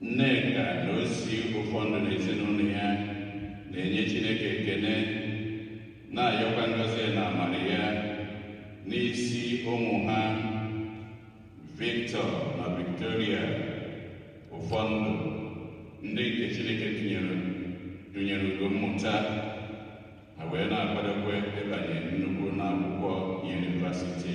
Nneka na Osi Ụfọndụ na ezinụlọ ya na-enye Chineke ekene na-ayọkwa ngọzi na amara ya n'isi ụmụ ha Victor na Victoria Ụfọndụ ndị nke Chineke tụnyere ugo mmụta ha wee na-akwadokwa ịbanye nnukwu ụnọ akwụkwọ yunivasiti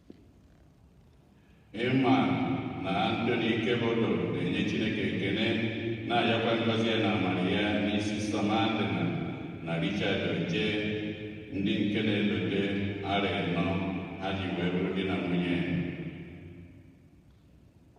Ịma na Antoni Ikebodo na-enye Chineke ekene na-ayọkwa ngọzi ya na amara ya n'isi Sọmadịna na Richard Oje ndị nke na-elote arọ ịnọ ha ji wee bụrụ di na nwunye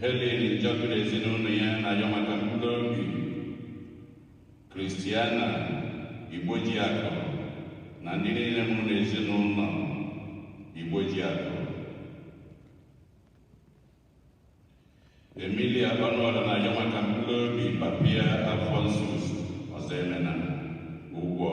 Helen Njọkụ na ezinụlọ ya na-ayọ maka mkpụrụ obi Kristiana Igbojiakụ na ndị niile nwụrụ na ezinụlọ Igbojiakụ. Emilia Ọnụọra na-ayọ maka mkpụrụ obi papa ya Alphonsus Ọzọemena Ugwu.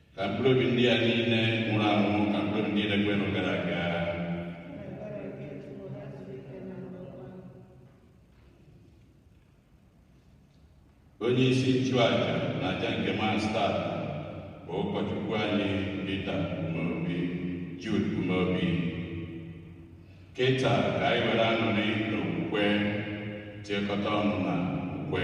ka mkpụrụ obi ndị a niile nwụrụ anwụ ka mkpụrụ obi ndị niile kwerenụ gara aga onye isi nchụaja na aja nke Mass taa bụ ụkọchukwu anyị Peter Umeobi Jude Umeobi kịta ka anyị were aṅụrị na okwukwe tiekọta ọnụ na ukwe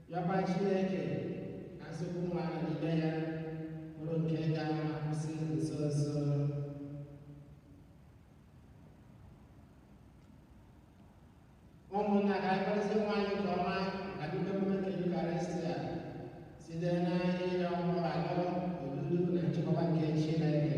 Yọba Chineke ka nsogbu nwa nọgide ya bụrụ nke ga-akwụsị nso nso. Ụmụnna ka anyị kwadosie onwe anyị nke ọma ka bido emume nke Yukarịstịa site na ịrịọ mgbaghara odudu na nchịkọba nke Chineke.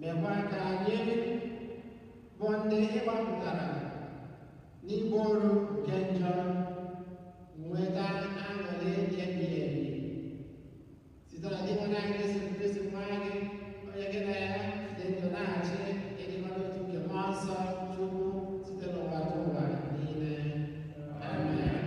mekwa ka anyị bụ ndị ị gbapụtara n'ịbụ oru nke njọ nweta aṅụrị ebighị ebi site na Dinwenụ anyị Jesu Kristi nwa gị onye gị na ya dị ndụ na-achị n'ịdịkọ n'otu nke mmụọ nsọ Chukwu site n'ụwatụwa niile amen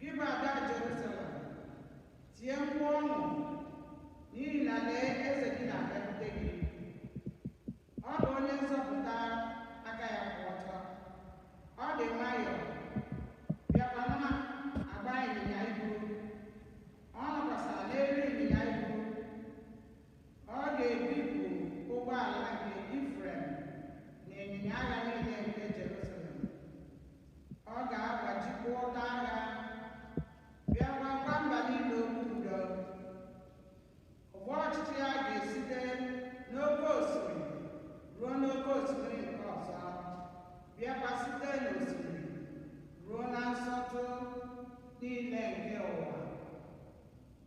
Gị bụ ada Jerusalem, tie mkpu ọṅụ, n'ihi na lee, eze gị na-abịakwute gị. Ọ bụ onye nzọpụta aka ya kwụ ọtọ. Ọ dị nwayọọ, bịakwa na-agba ịnyịnya ibu. Ọ nọkwasịrị n'elu ịnyịnya ibu. Ọ ga-ebipụ ụgbọala nke Ifrem na ịnyịnya agha niile nke Jerusalem. Ọ ga-agbajikwa ụta agha, bịa gwakwa mba niile okwu udo. Ụgbọ ọchịchị ya ga-esite n'oke osimiri ruo n'oke osimiri nke ọzọ, bịakwa site n'osimiri ruo na nsọtụ niile nke ụwa.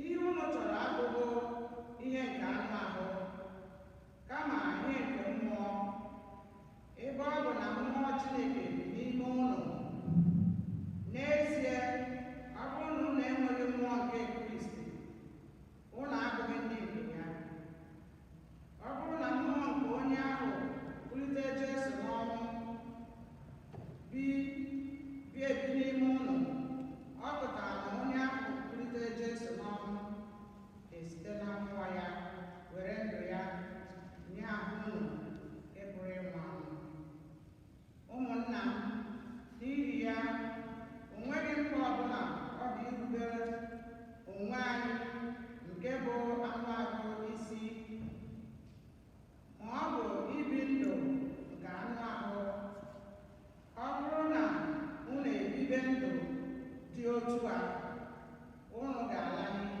Ihe unu chọrọ abụghị ihe nke anụ ahụ, kama ihe nke mmụọ, ebe ọ bụ na mmụọ Chineke bi n'ime unu. N'ezie, ọ bụrụ na unu enweghị mmụọ nke Kristi, unu abụghị ndị nke ya. Ọ bụrụ na mmụọ nke onye ahụ kulite Jesu n'ọnwụ bi bi ebi n'ime unu, ọ pụtara na onye ahụ kulite Jesu n'ọnwụ ga-esite na mmụọ ya were ndụ ya nye ahụ unu nke pụrụ ịnwụ anwụ. Ụmụnna m, n'ihi ya, o nweghị mkpa ọbụla ọ dị irubere onwe anyị nke bụ anụ ahụ isi, ma ọ bụ ibi ndụ nke anụ ahụ. Ọ bụrụ na unu ebibe ndụ dị otu a, unu ga-ala n'iyi.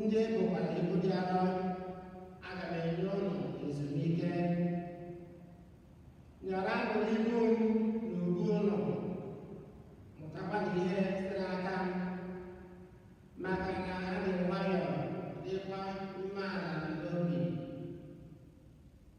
Ndị e bokwasịrị ibu dị arọ aga m enye unu ezumike nyaranụ ibu m n'ubu unu mụtakwanụ ihe site n'aka m maka na adị m nwayọọ dịkwa umeala n'obi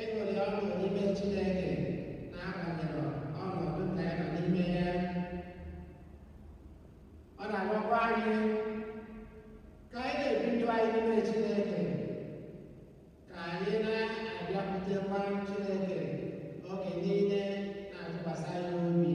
Ịṅụrị ọṅụ n'ime Chineke n'agbanyeghị ọnọdụ nke anyị nọ n'ime ya. Ọ na-agwakwa anyị ka anyị na-ebi ndụ anyị n'ime Chineke, ka anyị na-abịakwutekwa Chineke oge niile na-atụkwasị ya obi.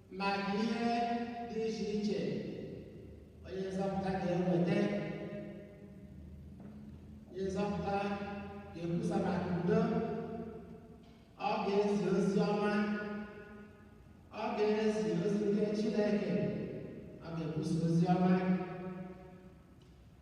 maka ihe dị iche iche onye nzọpụta ga-eweta onye nzọpụta ga-ekwusa maka udo ọ ga-ezi ozi ọma ọ ga-ezi ozi nke Chineke ọ ga-ekwusa ozi ọma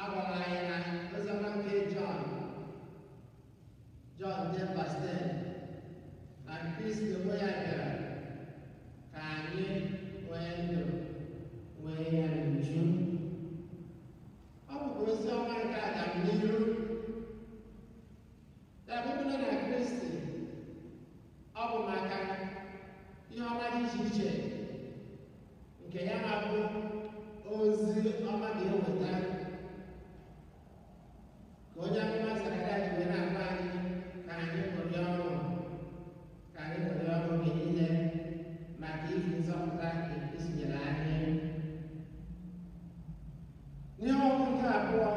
A gwara anyị n'oziọma nke Jọn Jọn ten verse ten na Kristi onwe ya bịara ka anyị nwee ndụ nwee ya n'uju. Ọ bụkwa ozi ọma nke agamnihu. Ya bụ ndị nọ na Kristi ọ bụ maka ihe ọma dị iche iche nke ya bụ ozi ọma ga-eweta ka onye amụma Zekaraya ji wee na-agwa anyị ka anyị ṅụrị ọṅụ ka anyị ṅụrị ọṅụ oge niile maka ihi nzọpụta nke Kristi nyere anyị ihe ọgụgụ nke abụọ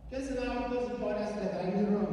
nke si n'akwụkwọ ozi Pọl asọ deere ndị Rom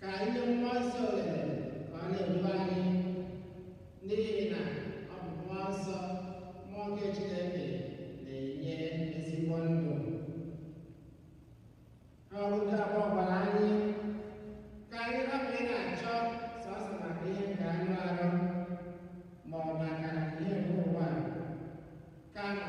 ka anyị nye mmụọ nsọ ohere ka ọ na-edu anyị n'ihi na ọ bụ mmụọ nsọ mmụọ nke Chineke na-enye ezigbo ndụ ihe ọgụgụ nke abụọ gwara anyị ka anyị hapụ ị na-achọ sọsọ maka ihe nke anụ arụ ma ọ bụ maka ihe nke ụwa kama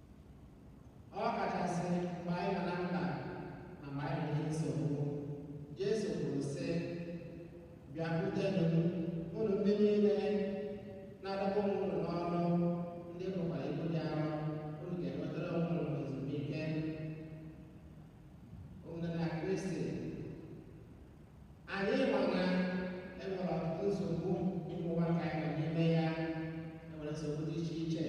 Ọ kachasị mgbe anyị nọ na mkpa na mgbe anyị nwere nsogbu. Jesu kwuru, sị, Bịakwutenụ m, unu ndị niile na-adọgbu onwe unu n'ọrụ, ndị bukwa ibu dị arọ, unu ga-enwetara onwe unu ezumike. Ụmụnna na Kristi Anyị ma na e nwere ọtụtụ nsogbu n'ụwa nke anyị nọ n'ime ya e nwere nsogbu dị iche iche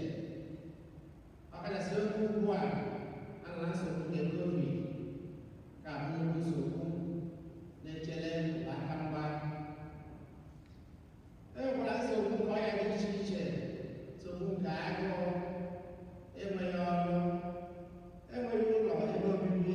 ọ kachasị oge ugbu a a nọ na nsogbu nke covid ka bụ nnukwu nsogbu na-echere ụwa aka mgba e nwekwara nsogbu nke ọrịa dị iche iche nsogbu nke agụụ enweghị ọrụ enweghị ụlọ ebe obibi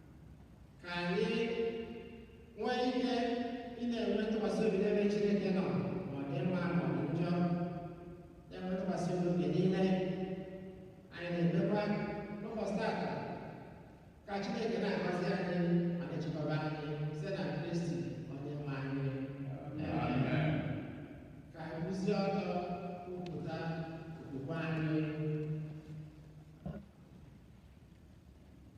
ka anyị nwee ike ị na-enwe ntụkwasị obi n'ebe Chineke nọ ma ọ dị mma ma ọ dị njọ na-enwe ntụkwasị obi oge niile anyị na-ekpekwa n'ụbọchị tata ka Chineke na-agọzi anyị ma na-echekwaba anyị site na Kristi onye nwe anyị Amen. ka anyị kwụzie ọtọ kwupụta okwukwe anyị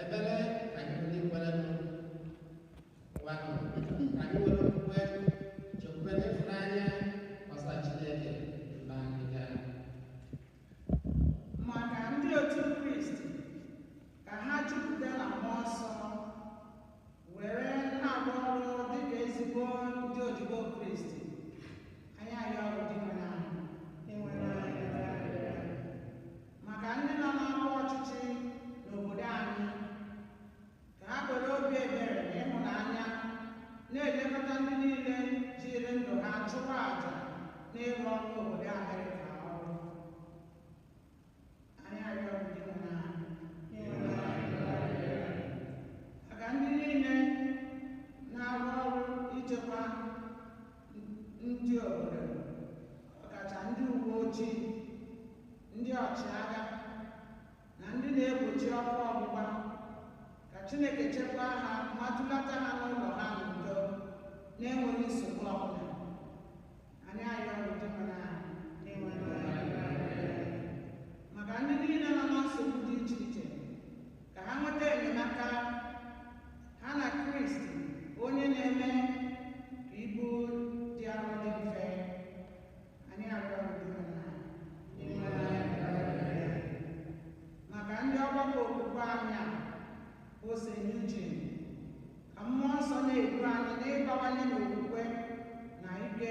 Ekpere nke anyị ndị kwere nụ ngwa nụ ka anyị were okwukwe nchekwube na ịfụnanya kọsara Chineke mkpa anyị ga. maka ndị otu kristi ka ha jupụta na mmụọ nsọ were na-agba ọrụ dịka ezigbo ndị odibo kristi anyị arịọ gị dinwenụ anyị maka ndị nọ n'ọkwa ọchịchị n'obodo anyị ka ha were obi ebere na ịhụnanya na-elekọta ndị niile jiri ndụ ha chụwa aja n'ịrụrụ obodo Amerịka ọrụ anyị arịọ Dinwenụ maka ndị niile na-arụ ọrụ ichekwa ndị obodo ọkacha ndị uwe ojii ndị ọchịagha na ndị na-egbochi ọkụ ọgbụgba ka Chineke chekwaa ha ma dulata ha n'ụlọ ha n'udo na-enweghị nsogbu ọbụla anyị ayọ Dinwenụ na-enweghị maka ndị niile nọ na nsogbu dị iche iche ka ha nweta enyemaka ha na Kristi onye na-eme ka ibu dị arọ dị mfe anyị arịọ Dinwenụ. maka ndị ọgbakọ okwukwe anyị a bụ St. Eugene ka mmụọ nsọ na-edu anyị n'ịbawanye n'okwukwe na ike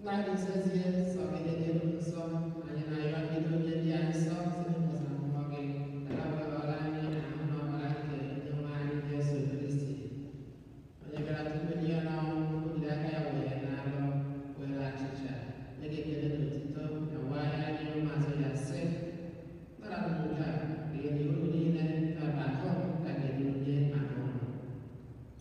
Nna ị dị nsọ ezie nsọ gị dị n'elu nsọ anyị na-arịọ ka i doo ihe ndị a nsọ site n'ụzọ mmụọ gị ka ha wee bara anyị na ahụ na ọbara nke onye nwe anyị Jesu Kristi onye gara tupu e nye ya n'ọnwụ o jili aka ya wee nalụ were achịcha nye gị ekele na otito nyawaa ya nye ụmụazụ ya sị naranụ nke a rie unu niile nke a bụ ahụ m nke a ga-enye maka unu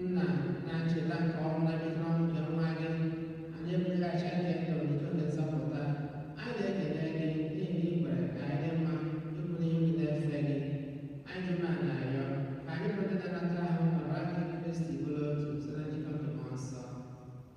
Nna na ncheta nke ọnwụ na mbilite n'ọnwụ nke nwa gị, anyị ebunye gị achịcha nke ndụ na iko nke nzọpụta. Anyị na-ekele gị n'ihi na i kwere ka anyị dị mma ịkwụ n'ihu gị na-efe gị. Anyị ji umeala na-arịọ ka anyị bụ ndị na-anata ahụ na ọbara nke Kristi bụrụ otu site na njikọ nke Mmụọ Nsọ.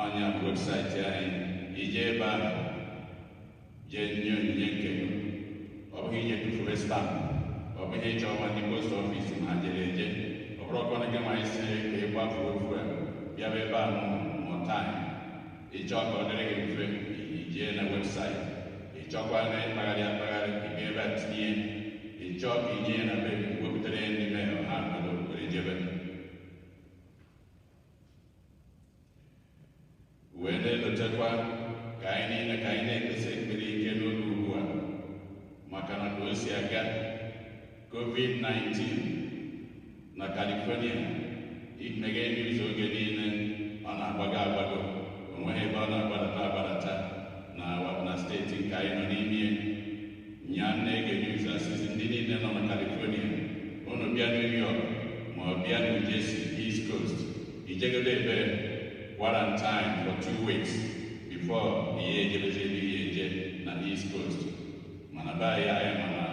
ọ nya bụ website anyị i jee ebe ahụ jee nye onyinye nke gị ọ bụghị ije tụfuwe stamp ọ bụghị ịchọ ịma ndị post office ma ha jere eje ọ bụrọkwanụ gị nwanyị si ka ị gbafuo fuel bịaba ebe ahụ mụta anyị ị chọọ ka ọ dịrị gị mfe i jee na website ị chọkwanụ ịkpagharị akpagharị ị ga ebe a tinye ị chọọ ka i nye ya na be gị wepụtara ya n'ime ha wee na-elotekwa ka anyị niile ka anyị na-ekpesi ekpere ike n'oge ugbu a maka na ka o si aga covid-19 na California i meghee news oge niile ọ na-agbago agbago o nweghị ebe ọ na-agbadata agbadata na na steeti nke anyị nọ n'ime Nya na-ege news a sị sị ndị niile nọ na California unu bịa New York ma ọ bịa New Jersey East Coast i jegodu ebe quarantine for two weeks before ị ya-ejebezi ebe ị ya-eje na East Coast mana be anyị anyị ma na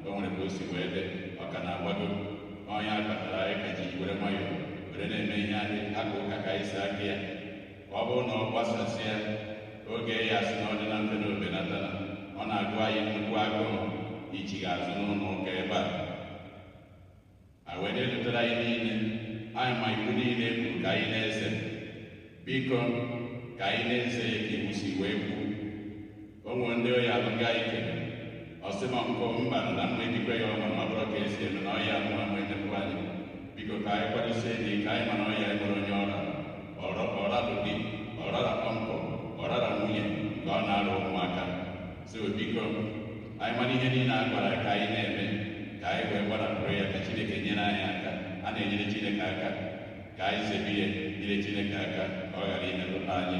o nwere ka o si wee dị ọ ka na-agbago ọ nya kpatara anyị ka ji were nwayọọ were na-eme ihe anyị aka ụka ka anyị si aka ya ọ bụrụ na ọ gbasasịa oge ya sị na ọ dị na mfe na o benata ọ na-agụ anyị nnukwu agụụ ichigha azụ n'ụlọ ụka ebe a a wee na-elotere anyị niile anyị ma iwu niile kwuru ka anyị na-eze biko ka anyị na-eze ya ka iwu si wee kwuo o nwere ndị oyi alụ nga ike ọsịma nkọ mba na mma ejikwa ya ọma ma bụrụ ka esi eme na ọya mụwa ma enyekwu anyị biko ka anyị kwadosie ike ka anyị ma na ọya enwerọ onye ọ ra ọrọ ọra bụ di ọ rara kpọmkpọ ọ rara nwunye nke ọ na-ara ụmụaka so biko anyị mara ihe niile a gwara ka anyị na-eme ka anyị wee gbarapụrụ ya ka chineke nyere anyị aka a na-enyere chineke aka ka anyị zebe ihe nyere chineke aka ka ọ ghara imetụta anyị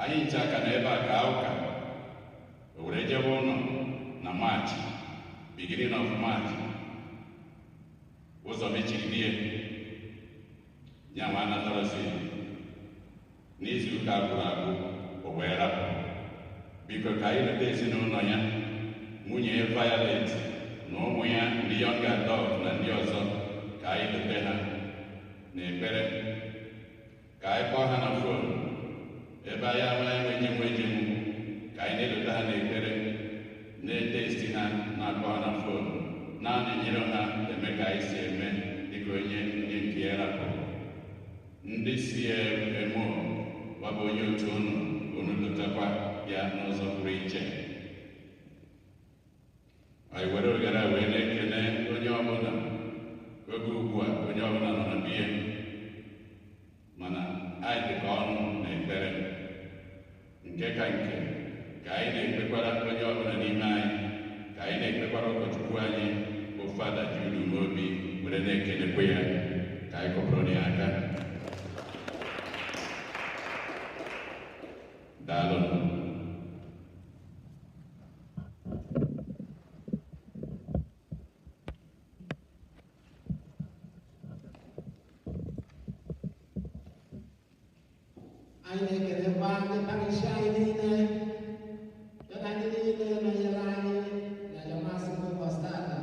Anyị ncha ka nọ ebe a kaa ụka o were jebe ụlọ na maachị beginning of March ụzọ mechirie nyanwa anatarọzi n'izu ụka gwụrụ agwụ o wee rapụ biko ka anyị lota ezinụlọ ya nwunye ya Violet na ụmụ ya ndị young adult na ndị ọzọ ka anyị lota ha n'ekpere ka anyị kpọọ ha na fon ebe anyị ama ejenwu ejenwu ka anyị na-elota ha n'ekpere na-etesti ha na-akpọ ha na fon na-anọnyere ha eme ka anyị si eme dịka onye onye nke ya rapụrụ ndị CMO nke a bụ onye otu unu unu lotakwa ya n'ụzọ pụrụ iche anyị were ohere a wee na-ekele onye ọbụla oge ugbu a onye ọbụla nọ na be ya mana anyị dịkọ ọnụ na ekpere nke ka nke ka anyị na-ekpekwara onye ọbụla n'ime anyị ka anyị na-ekpekwara ụkọchukwu anyị bụ fada Jude Umeobi were na-ekelekwa ya ka anyị kụọrọ ya aka daalụ anyị na-ekelekwa ndị parishi anyị niile ya na ndị niile nọnyere anyị n'aja masị ụbọchị tata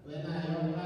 wee na-ayọkwa